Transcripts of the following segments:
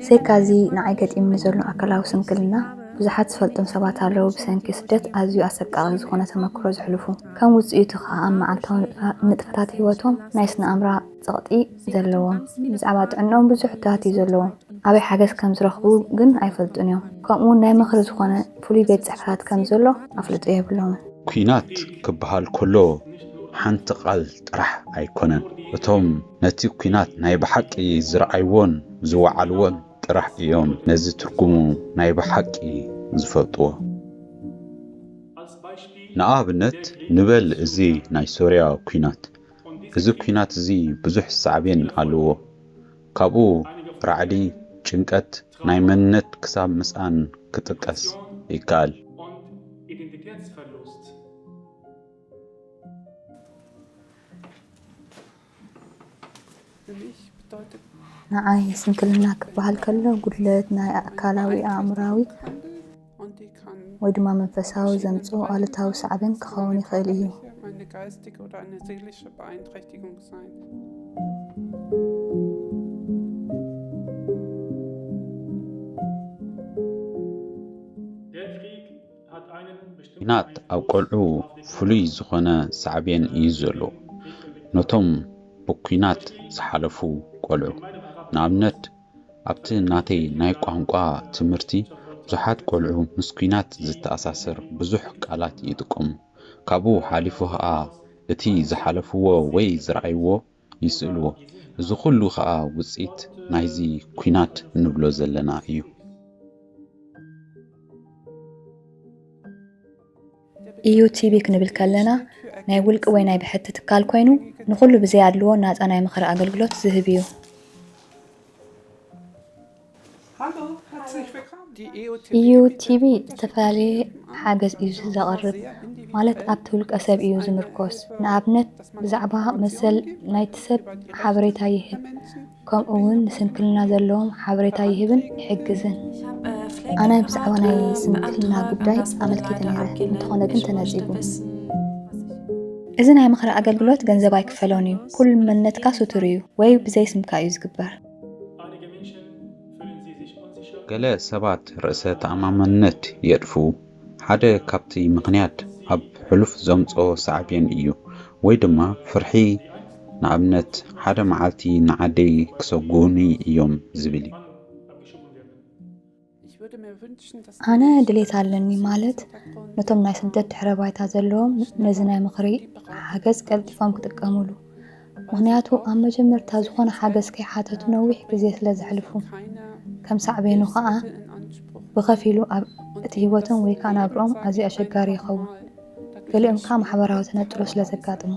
ብዘይካ እዚ ንዓይ ገጢሙኒ ዘሎ ኣካላዊ ስንክልና ብዙሓት ዝፈልጦም ሰባት ኣለዉ ብሰንኪ ስደት ኣዝዩ ኣሰቃቒ ዝኾነ ተመክሮ ዘሕልፉ። ከም ውጽኢቱ ከኣ ኣብ መዓልታዊ ንጥፈታት ህይወቶም ናይ ስነ ኣእምራ ጸቕጢ ዘለዎም፣ ብዛዕባ ጥዕንኦም ብዙሕ ሕቶታት እዩ ዘለዎም፣ ኣበይ ሓገዝ ከም ዝረኽቡ ግን ኣይፈልጡን እዮም፣ ከምኡ'ውን ናይ ምኽሪ ዝኾነ ፍሉይ ቤት ጽሕፈታት ከም ዘሎ ኣፍልጦ የብሎምን። ኲናት ክበሃል ከሎ ሓንቲ ቃል ጥራሕ ኣይኮነን፣ እቶም ነቲ ኲናት ናይ ብሓቂ ዝረኣይዎን ዝወዓልዎን ጥራሕ እዮም ነዚ ትርጉሙ ናይ ብሓቂ ዝፈልጥዎ። ንኣብነት ንበል እዚ ናይ ሶርያ ኲናት እዚ ኲናት እዚ ብዙሕ ሳዕቤን ኣለዎ። ካብኡ ራዕዲ፣ ጭንቀት፣ ናይ መንነት ክሳብ ምስኣን ክጥቀስ ይከኣል። ንዓይ ስንክልና ክበሃል ከሎ ጉድለት ናይ ኣካላዊ፣ ኣእምሮኣዊ ወይ ድማ መንፈሳዊ ዘምጽኦ ኣሉታዊ ሳዕቤን ክኸውን ይኽእል እዩ። ኲናት ኣብ ቆልዑ ፍሉይ ዝኾነ ሳዕቤን እዩ ዘሎዎ። ነቶም ብኲናት ዝሓለፉ ቆልዑ፣ ንኣብነት ኣብቲ ናተይ ናይ ቋንቋ ትምህርቲ ብዙሓት ቆልዑ ምስ ኲናት ዝተኣሳሰር ብዙሕ ቃላት ይጥቀሙ። ካብኡ ሓሊፉ ከኣ እቲ ዝሓለፍዎ ወይ ዝረኣይዎ ይስእልዎ እዚ ኩሉ ከኣ ውጽኢት ናይዚ ኩናት ንብሎ ዘለና እዩ። ኢዩ ቲቢ ክንብል ከለና ናይ ውልቂ ወይ ናይ ብሕቲ ትካል ኮይኑ ንኹሉ ብዘይ ኣድልዎ ናጻ ናይ ምኽሪ ኣገልግሎት ዝህብ ኢዩ። ኢዩ ቲቢ ዝተፈላለየ ሓገዝ ኢዩ ዘቕርብ ማለት ኣብቲ ውልቀ ሰብ ኢዩ ዝምርኮስ ንኣብነት ብዛዕባ መሰል ናይቲ ሰብ ሓበሬታ ይህብ ከምኡ ውን ንስንክልና ዘለዎም ሓበሬታ ይህብን ይሕግዝን። ኣነ ብዛዕባ ናይ ስንክልና ጉዳይ ኣመልኪተ ነይረ እንተኾነ ግን ተነጺጉ። እዚ ናይ ምኽሪ ኣገልግሎት ገንዘብ ኣይክፈሎን እዩ። ኩሉ መንነትካ ስቱር እዩ ወይ ብዘይ ስምካ እዩ ዝግበር። ገለ ሰባት ርእሰ ተኣማምነት የጥፍኡ፣ ሓደ ካብቲ ምኽንያት ኣብ ሕሉፍ ዘምጽኦ ሳዕቤን እዩ፣ ወይ ድማ ፍርሒ፣ ንኣብነት ሓደ መዓልቲ ንዓደይ ክሰጕጉኒ እዮም ዝብል እዩ። ኣነ ድሌት ኣለኒ ማለት ነቶም ናይ ስደት ድሕረ ባይታ ዘለዎም ነዚ ናይ ምኽሪ ሓገዝ ቀልጢፎም ክጥቀሙሉ ምክንያቱ ኣብ መጀመርታ ዝኾነ ሓገዝ ከይሓተቱ ነዊሕ ግዜ ስለ ዘሕልፉ ከም ሳዕቤኑ ከዓ ብኸፊሉ ኣብ እቲ ህይወቶም ወይ ከዓ ናብርኦም ኣዝዩ ኣሸጋሪ ይኸውን ገሊኦም ከዓ ማሕበራዊ ተነጥሎ ስለ ዘጋጥሙ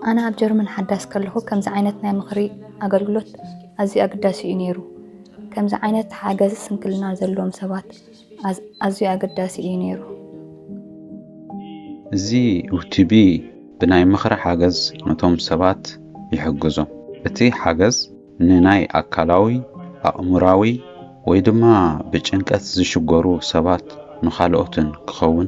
ኣነ ኣብ ጀርመን ሓዳስ ከለኹ ከምዚ ዓይነት ናይ ምኽሪ ኣገልግሎት ኣዝዩ ኣገዳሲ እዩ ነይሩ። ከምዚ ዓይነት ሓገዝ ስንክልና ዘለዎም ሰባት ኣዝዩ ኣገዳሲ እዩ ነይሩ። እዚ ዩቲቢ ብናይ ምኽሪ ሓገዝ ነቶም ሰባት ይሕግዞም። እቲ ሓገዝ ንናይ ኣካላዊ፣ ኣእምሮኣዊ ወይ ድማ ብጭንቀት ዝሽገሩ ሰባት ንኻልኦትን ክኸውን